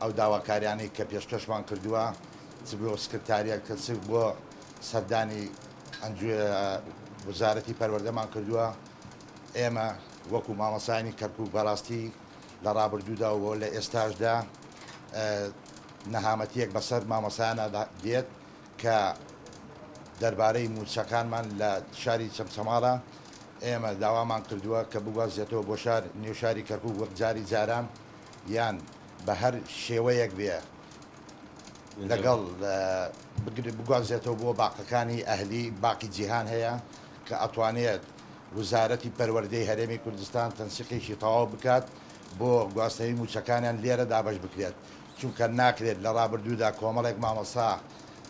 ئەو داواکاریانەی کە پێشکەشمان کردووە چ بۆ سکرتاریەت کە چ بۆ سەردانی ئەنجوی وزارەتی پەروەردەمان کردووە ئێمە وەکو مامەسانی کەرکک بەڕاستی لە ڕابردوودا و لە ئێستاشدا نەهامەتیەک بەسەر مامەسانە دێت کە دەربارەی موچەکانمان لە شاری چەمچەماڵە ئێمە داوامان کردووە کە بگوازێتەوە بۆ شار نێو شاری کەرکک وەک جاری جاران یان بە هەر شێوەیەک بێ لەگەڵ بگرێ بگوازێتەوە بۆ باقەکانی ئەهلی باقی جیهان هەیە کە ئەتوانێت وزارەتی پەروەردەی هەرێمی کوردستان تەنسیقێکی تەواو بکات بۆ گواستنەوەی مووچەکانیان لێرە دابەش بکرێت چونکە ناکرێت لە ڕابردوودا کۆمەڵێک مامۆستا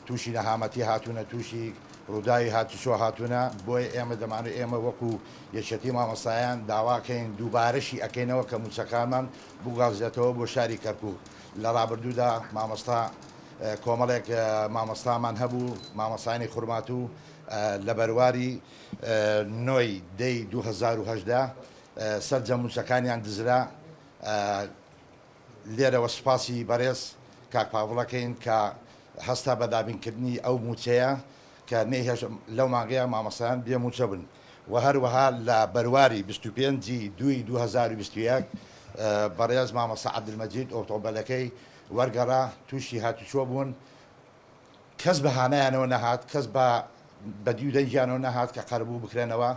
تووشی نەهامەتی هاتوونە تووشی ڕووداوی هاتوچۆ هاتوونە بۆیە ئێمە دەمانوێت ئێمە وەکوو یەکێتی مامۆستایان داواکەین دووبارەشی ئەکەینەوە کە مووچەکانمان بگوازرێتەوە بۆ شاری کەرکوک لە رابردوودا مامۆستا کۆمەڵێک مامۆستامان هەبوو مامۆستایانی خورماتوو لە بەرواری نۆ ی دە ی دوو هەزار و هەژدە سەرجەم مووچەکانیان دزرا لێرەوە سوپاسی بەرێز کاک پاڤڵەکەین کە هەستا بە دابینکردنی ئەو مووچەیە کە نەیهێشت لەو مانگەیە مامۆستایان بێ مووچە بن. و هەروەها لە بەرواری بیست و پێنج ی دووی دوو هەزار و بیست و یەک بەڕێز مامۆستا عەبدولمەجید ئۆتۆمبێلەکەی وەرگەڕا تووشی هاتوچۆ بوون کەس بە هانایانەوە نەهات کەس بە بەدیو دەنگیانەوە نەهات کە قەرەبوو بکرێنەوە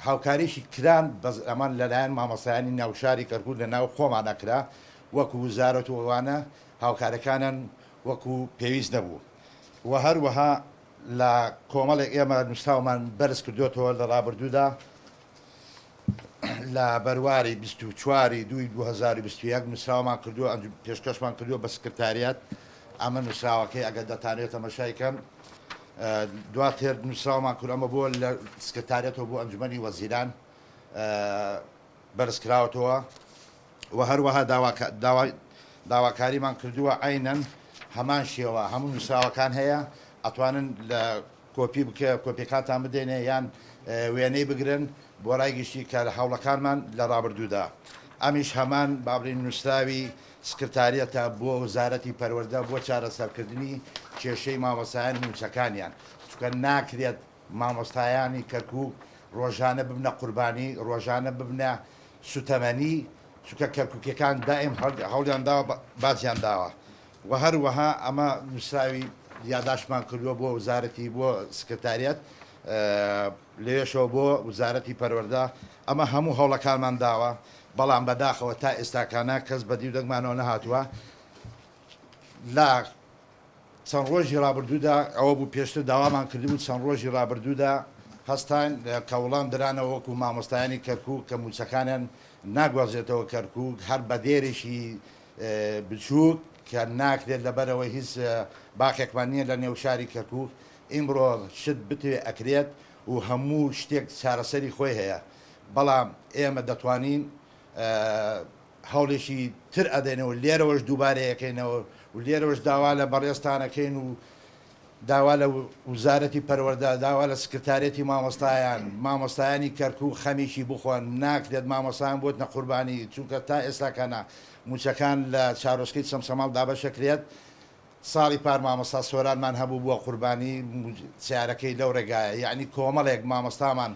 هاوکاریشی کران بەس ئەمان لەلایەن مامۆستایانی ناوشاری کەرکوو لە ناو خۆمانە کرا وەکو وزارەت و ئەوانە هاوکارەکانن وەکو پێویست نەبوو و هەروەها لە کۆمەڵێک ئێمە نووسراومان بەرز کردۆتەوە لە ڕابردوودا لە بەرواری بیست و چواری دووی دوو هەزار و بیست و یەک نووسراومان کردووە ئەنج پێشکەشمان کردووە بە سکرتاریات ئەمە نووسراوەکەی ئەگەر دەتانێت تەمەشای کەن دواتر نووسراومان کرد ئەمە بۆ لە سکرتاریەتەوە بۆ ئەنجومەنی وەزیران بەرزکراوەتەوە و هەروەها داواکاریمان کردووە عەینەن هەمان شێوە هەموو نووسراوەکان هەیە ئەتوانن لە کۆپی بکە کۆپیەکانتان بدەینێ یان وێنەی بگرن بۆ رای گشتی کە لە هەوڵەکانمان لە رابردوودا ئەمیش هەمان بابرین نووسراوی سکرتاریەتە بۆ وزارەتی پەروەردە بۆ چارەسەرکردنی کێشەی مامۆستایانی مووچەکانیان چونکە ناکرێت مامۆستایانی کەرکوک ڕۆژانە ببنە قوربانی ڕۆژانە ببنە سوتەمەنی چونکە کەرکوکیەکان دایم هەوڵیان داوە بازیان داوە وە هەروەها ئەمە نووسراوی یاداشمان کردووە بۆ وزارەتی بۆ سکرتاریەت لەوێشەوە بۆ وزارەتی پەروەەردە ئەمە هەموو هەوڵەکانمان داوە بەڵام بەداخەوە تا ئێستاکانە کەس بەدیو دەگمانەوە نەهاتووە لە چەند ڕۆژی ڕابردوودا، ئەوە بوو پێشتر داوامان کردبوو، چەند ڕۆژی ڕابردوودا هەستاین کە وڵام درانەوە وەکو مامۆستایانی کەرکووک کە مووچەکانیان ناگوازرێتەوە کەرکووک هەر بە دێرێکی بچووک کە ناکرێت لەبەرئەوەی هیچ باخێکمان نییە لە نێو شاری کەرکووک ئیمڕۆ شت بتوێ ئەکرێت و هەموو شتێک چارەسەری خۆی هەیە بەڵام ئێمە دەتوانین هەوڵێکی تر ئەدەین و لێرەوەش دووبارەیەکەینەوە و لێرەوەش داوا لە بەڕێزتان ئەکەین و داوا لە وزارەتی پەروەردە، داوا لە سکرتاریەتی مامۆستایان، مامۆستایانی کەرکوک خەمیکی بخۆن، ناکرێت مامۆستایان بۆتنە قوربانی، چونکە تا ئێستاکە نا موچەکان لە چارۆسکەی چەمچەماڵ دابەشەکرێت، ساڵی پار مامۆستا سۆرانمان هەبوو بووە قوربانی سیارەکەی لەو ڕێگایە یەعنی کۆمەڵێک مامۆستامان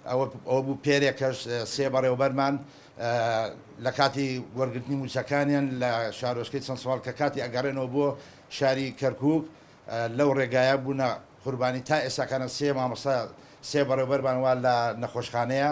ئەوە بوو پێرێ کەش سێ بەڕێوبەرمان لە کاتی وەرگرتنی موچەکانیان لە شارۆچکەی چەند سوال کە کاتی ئەگەڕێنەوە بۆ شاری کەرکوک لەو ڕێگایە بوونە قوربانی تا ئێستاکانە سێ مامۆستا سێ بەڕێوبەرمان وا لە نەخۆشخانەیە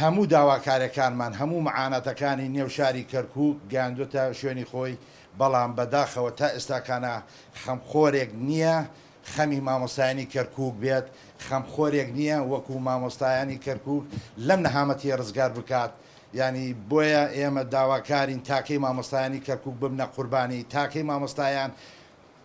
هەموو داواکاریەکانمان، هەموو معاناتەکانی نێو شاری کەرکوک گەیاندوەتە شوێنی خۆی، بەڵام بە داخەوە تا ئێستاکانا خەمخۆرێک نیە خەمی مامۆستایانی کەرکوک بێت، خەمخۆرێک نیە وەکو مامۆستایانی کەرکوک لەم نەهامەتیە رزگار بکات، یانی بۆیە ئێمە داواکارین تاکەی مامۆستایانی کەرکوک ببنە قوربانی، تاکەی مامۆستایان،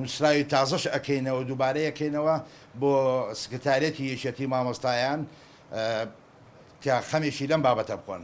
نوسراوی تازەش ئەکەینەوە دوبارە ئەکەینەوە بۆ سکرتاریەتی یەکێتی مامۆستایان کە خەمێکی لەم بابەتە بخۆن.